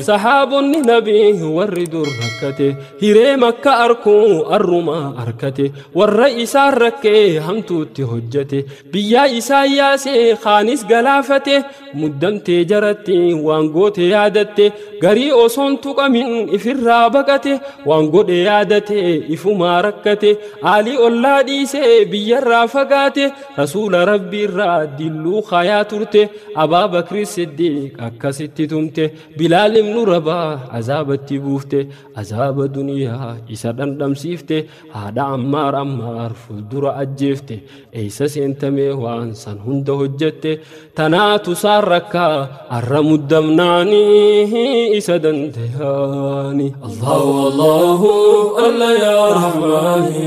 sahaabonni nabii warri dur rakkate hiree makka arkuu arrumaa arkate warra isaan rakkee hamtuutti hojjate biyyaa isaa yaasee kaanis galaafate muddamtee jaratti waan goote yaadatte garii osoon tuqamin ifirraa baqate waan godhe yaadate ifumaa rakkate aalii ollaa dhiisee biyyarraa fagaate Rasuula Rabbii irraa dilluu kaayaa turte Abaa Bakri Siddiiq akkasitti tumte Bilaal ibnu Rabaa azaabatti buufte azaaba duniyaa isa dhandhamsiifte haadha Ammaar Ammaar fuuldura ajjeefte eessa seentamee waan san hunda hojjette tanaatu saan rakkaa arra muddamnaanii isa dandayaani Allahu Allahu Alla yaa Rahmaani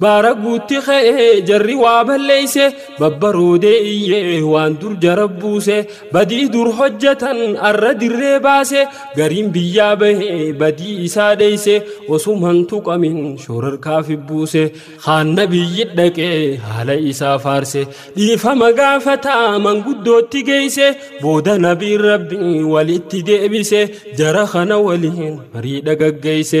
Baara guutti ka'e jarri waa balleeyse babbaroodee iyyee waan dur jara buuse badii dur hojjetan arra dirree baase gariin biyyaa bahe badii isaa dheeyse osuman tuqamin shoorarkaaf buuse haanna biyyi dhaqee haala isaa faarse dhiifama gaafata manguddootti geeyse booda nabiin rabbi walitti deebise jara kana waliin marii dhagaggeeyse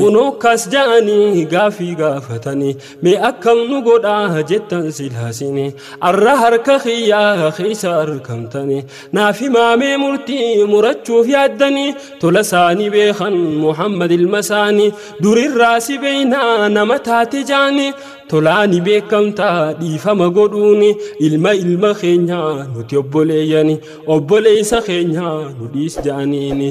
Kunoo kas ja'anii gaafii gaafatanii mee akkam nu godhaa jettan silaasinii arra harka kiyyaa keessa argamtanii naaf himaamee murtii murachuuf yaaddanii tola isaanii beekan Muhammad ilma isaanii durirraa si beeynaa nama taate jaanii tolaani beekamtaa dhiifama godhuuni ilma ilma keenyaa nuti obboleeyyani obboleeysa keenyaa nu dhiis ja'aniini.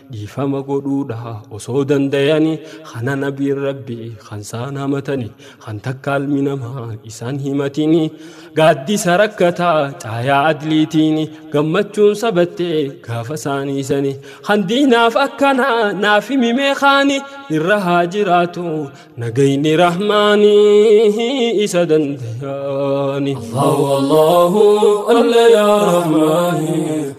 Dhiifama godhuudha osoo dandayani kana nabiin rabbi kan saan hamatani kan takka almi namaa isan himatini gaaddisa rakkataa caayaa adliitiini gammachuun sabatte gaafa saanii sani kan diinaaf akkana naaf himi meekaani irra haa jiraatu nagayni rahmaani isa dandayaani Allahu Allahu Allah ya Rahmaani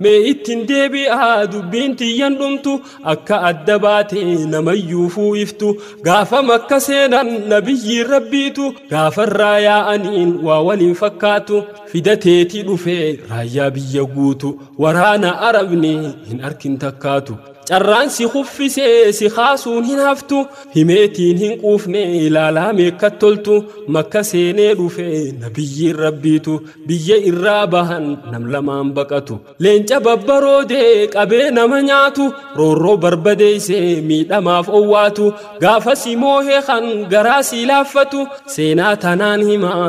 Mee ittin deebi'aa dubbiin tiyyan dhumtu akka adda baate namayyuufuu iftu gaafa makka seenan nabiyyiin rabbiitu gaafarraa yaa'aniin waa waliin fakkaatu fidateeti dhufe raayyaa biyya guutu waraana arabni hin arkin takkaatu. Carraan si kuffise si kaasuun hin haftu himeetiin hin quufne ilaalaa meekkat toltu makka seenee dhufe nabiyyiin rabbiitu biyya irraa bahan nam lamaan baqatu leenca babbaroode qabee nama nyaatu roorroo barbadeeyse miidhamaaf owwaatu gaafa si moohe kan garaa si laaffatu seenaa tanaan himaa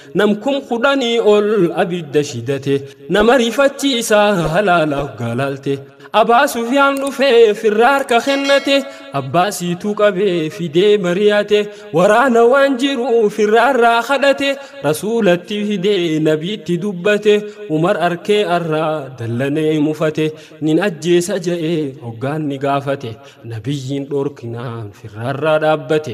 Nam kum kudhanii ol abidda shidate nama rifachiisa halaalaaf gaalaalte. Abaa Sufyaan dhufee firraa harka kennate abbaa siituu qabee fidee mari'ate waraana waan jiru firraarraa kadhate rasuulatti fidee nabiitti dubbate Umar arkee arraa dallanee mufate nin ajjeesa ja'ee hoggaan ni gaafate nabiyyiin dhorkinaan firraarraa dhaabbate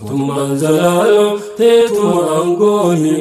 Mootummaan zalaaloo teetuma aangooni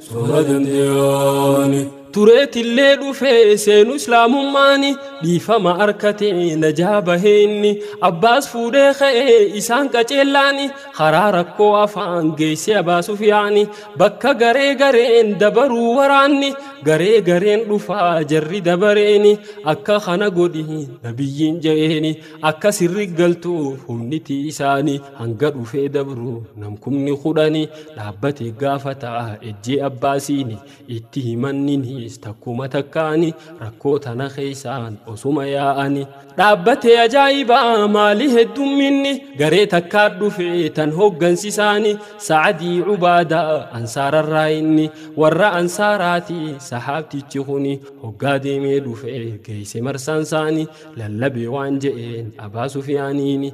soora dandeeyaani. Tureetillee dhufee seenu islaamummaani dhiifama arkate najaa bahee inni abbaas fuudhee ka'ee isaan qaceellaani karaa rakkoo afaan geessee abaasuuf yaani bakka garee gareen dabaruu waraanni garee gareen dhufaa jarri dabareeni akka kana godhi nabiyyiin ja'eeni akka sirri galtuuf humniti isaani. hanga dhufee dabru namkumni kudhani dhaabbate gaafata ejjee abbaasiini itti himanninis takkuma takkaani rakkoo tana keessaan osuma yaa'ani dhaabbatee ajaa'ibaa maali heddumminni garee takkaa dhufe tan hooggansisaani sa'adii ubaada ansaararraa inni warra ansaaraati sahaabtichi kuni hoggaa deemee dhufe geeyse marsaansaani lallabee waan je'een abaa sufiyaaniini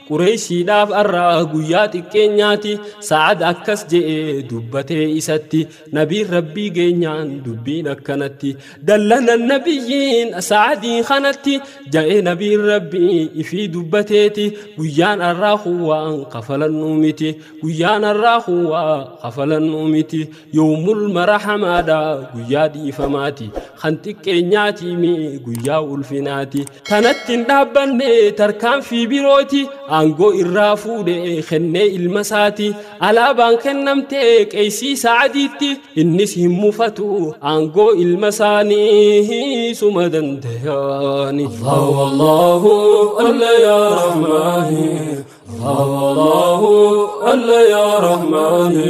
Qureeyshiidhaaf arra guyyaa xiqqeenyaati, Sa'ad akkas je'ee dubbatee isatti, Nabiin Rabbii geenyaan dubbiin akkanatti, dallanan Nabiyyiin Sa'adii kanatti, ja'e Nabiin Rabbii ifii dubbateeti, guyyaan arraa kun waan kafalannuu miti, guyyaan arraa kun waa kafalannuu miti, Yoomul marahamaadha guyyaa dhiifamaati kan xiqqeenyaati mi guyyaa ulfinaati tanatti hin dhaabbanne tarkaanfii birooti aangoo irraa fuudhe kennee ilma isaati alaabaan kennamte qeeysii sa'adiitti innis hin mufatu aangoo ilma isaanii suma dandayaani Allahu Allahu Allah ya Rahmaani Allahu Allahu Allah ya Rahmaani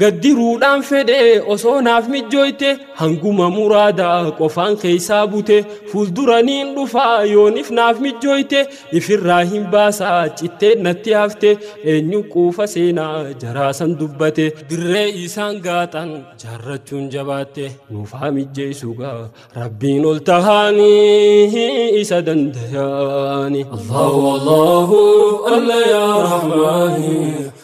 Gaddiruudhaan fedhe osoo naaf mijjooyte hanguma muraada qofaan keessaa bute fuuldura niin dhufa yoonif naaf mijjooyte ifirraa hin baasa cittee natti hafte eenyu quufa seenaa jaraasan dubbate dirree isaan gaaxan jaarrachuun jabaatte nuuf haa mijjeessu gaa rabbiin ol tahaanii isa dandayaani Allahu Allahu Alla yaa Rahmaani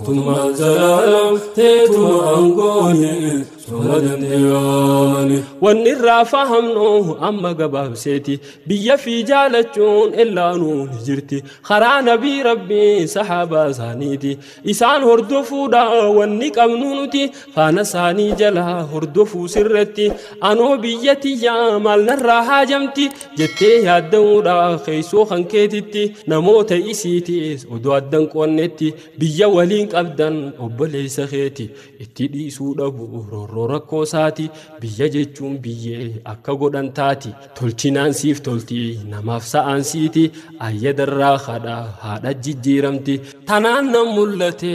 Mootummaan zalaalam teetuma aangooni suma dandeeyamani. Wanni irraa fahamnu amma gabaabseeti biyya fi jaalachuun illaanuu ni jirti karaa nabii rabbii sahaabaa isaaniiti isaan hordofuudha wanni qabnu nuti faana isaanii jala hordofuu sirratti anoo biyya tiyyaa maal narraa haajamti jettee yaadda'uudhaa keessoo kan keetitti namoota isiitiis odoo addan qoonnetti biyya waliin qabdan obboleessa keeti itti dhiisuu dhabu roorroo rakkoo isaati biyya jechuun biyyee akka godhan taati tolchinaan siif tolti namaaf sa'aan siiti ayyadarraa haadha haadha jijjiiramti tanaan nan mul'ate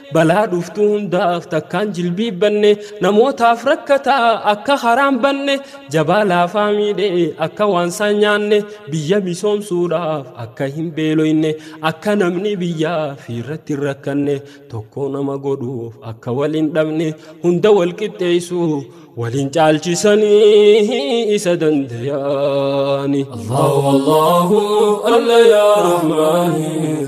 Balaa dhuftu hundaaf takkaan jilbiibbanne namootaaf rakkataa akka haraan banne jabaa laafaa miidhee akka waansaan nyaanne biyya misoomsuudhaaf akka hin beeloyne akka namni biyyaa fi irratti hin rakkanne tokko nama godhuuf akka wal hin dhabne hunda wal qixxeessu waliin caalchisanii isa dandayaani. Allahu Allahu Alla yaa Rahmaani.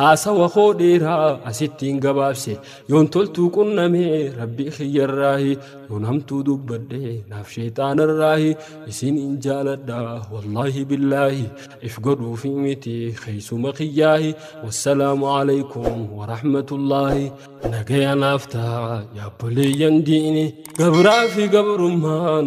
Haasawa koo dheeraa asittiin gabaabse yoon toltuu qunname rabbii kiyyarraahi yoon hamtuu dubbadhe naaf sheexaanarraahi isin in jaaladha wallaahi billaahi if godhuufi miti keeysuma kiyyaahi wassalaamu alaykum warahmatullaahi nagaya naaf taha yaabboleeyyan diini gabraa fi gabrummaan